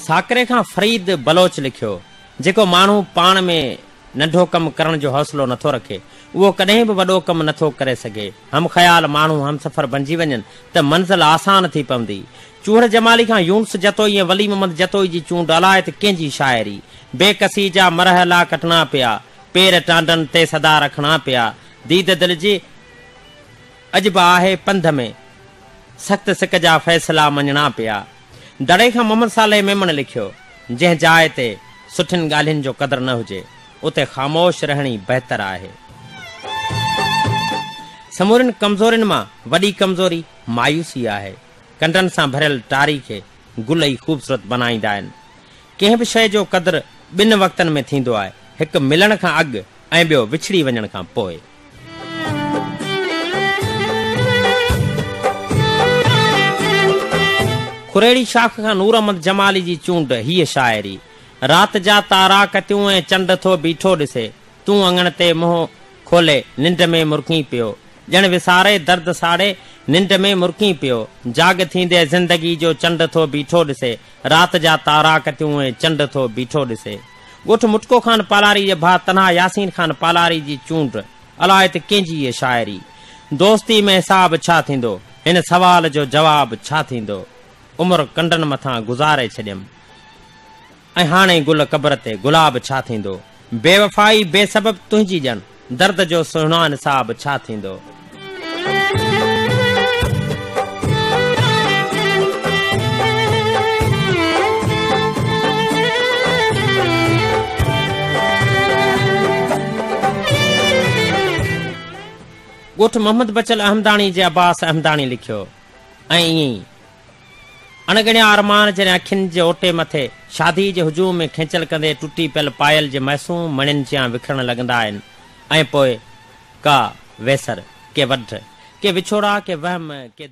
ساڪري کان فريد بلوچ لکيو، جيڪو ماڻهو پاڻ ۾ ننڍو ڪم ڪرڻ جو حوصلو نٿو رکي، اهو ڪڏهن به وڏو ڪم نٿو ڪري سگهي. هم خيال ماڻهو همسفر بنجي وڃن ته منزل آسان ٿي پوندي. چوهڙ جمالي کان يونس جتوئي ۽ ولي محمد جتوئي جي چونڊ الائي ته ڪنهن جي شاعري. بي ڪسي جا مرحلا ڪٽڻا پيا، پير ٽانڊن تي سدا رکڻا پيا، ديد دل جي. اڄ به آهي پنڌ ۾، سخت سڪ جا فيصلا مڃڻا پيا. دڙي کان محمد صالح ميمڻ لکيو، جنهن جاء تي سٺين ڳالهين جو قدر نه هجي، اتي خاموش رهڻ ئي بهتر آهي. سمورين ڪمزورين مان وڏي ڪمزوري مايوسي آهي. ڪنڊن سان ڀريل ٽاري کي گل ئي خوبصورت بنائيندا آهن. ڪنهن به شيء جو قدر ٻن وقتن ۾ ٿيندو آهي، هڪ ملڻ کان اڳ ۽ ٻيو وڇڙي وڃڻ کان پوء. خريڙي شاخ کان نور احمد جمالي جي چونڊ هيء شاعري، رات جا تارا ڪتيون ۽ چنڊ ٿو بيٺو ڏسي، تون اڱڻ تي منهن کولي، ننڊ ۾ مرڪين پيو، ڄڻ وساري درد ساڙي، ننڊ ۾ مرڪين پيو، جاڳ ٿيندي زندگي جو چنڊ ٿو بيٺو ڏسي، رات جا تارا ڪتيون ۽ چنڊ ٿو بيٺو ڏسي. ڳوٺ مٽڪو خان پالاري جي ڀاء تنها ياسين خان پالاري جي چونڊ الائي ته ڪنهن جي هي شاعري دوستي ۾ حساب ڇا ٿيندو هن سوال جو جواب ڇا ٿيندو عمر ڪنڊن مٿان گذاري ڇڏيم ۽ هاڻي گل قبر تي گلاب ڇا ٿيندو بيوفائي بي سبب تنهنجي ڄڻ. درد جو سهڻا نصاب ڇا ٿيندو؟ ڳوٺ محمد بچل احمداڻي جي عباس احمداڻي لکيو ۽ ائين ئي اڻڳڻيا ارمان جڏهن اکين جي اوٽي مٿي شاديء جي هجوم ۾ کينچل ڪندي ٽٽي پيل پايل جي معصوم مڻين جيان وکرڻ لڳندا آهن ۽ پوء ڪا ويسر، ڪي وڍ، ڪي وڇوڙا، ڪي وهم، ڪي.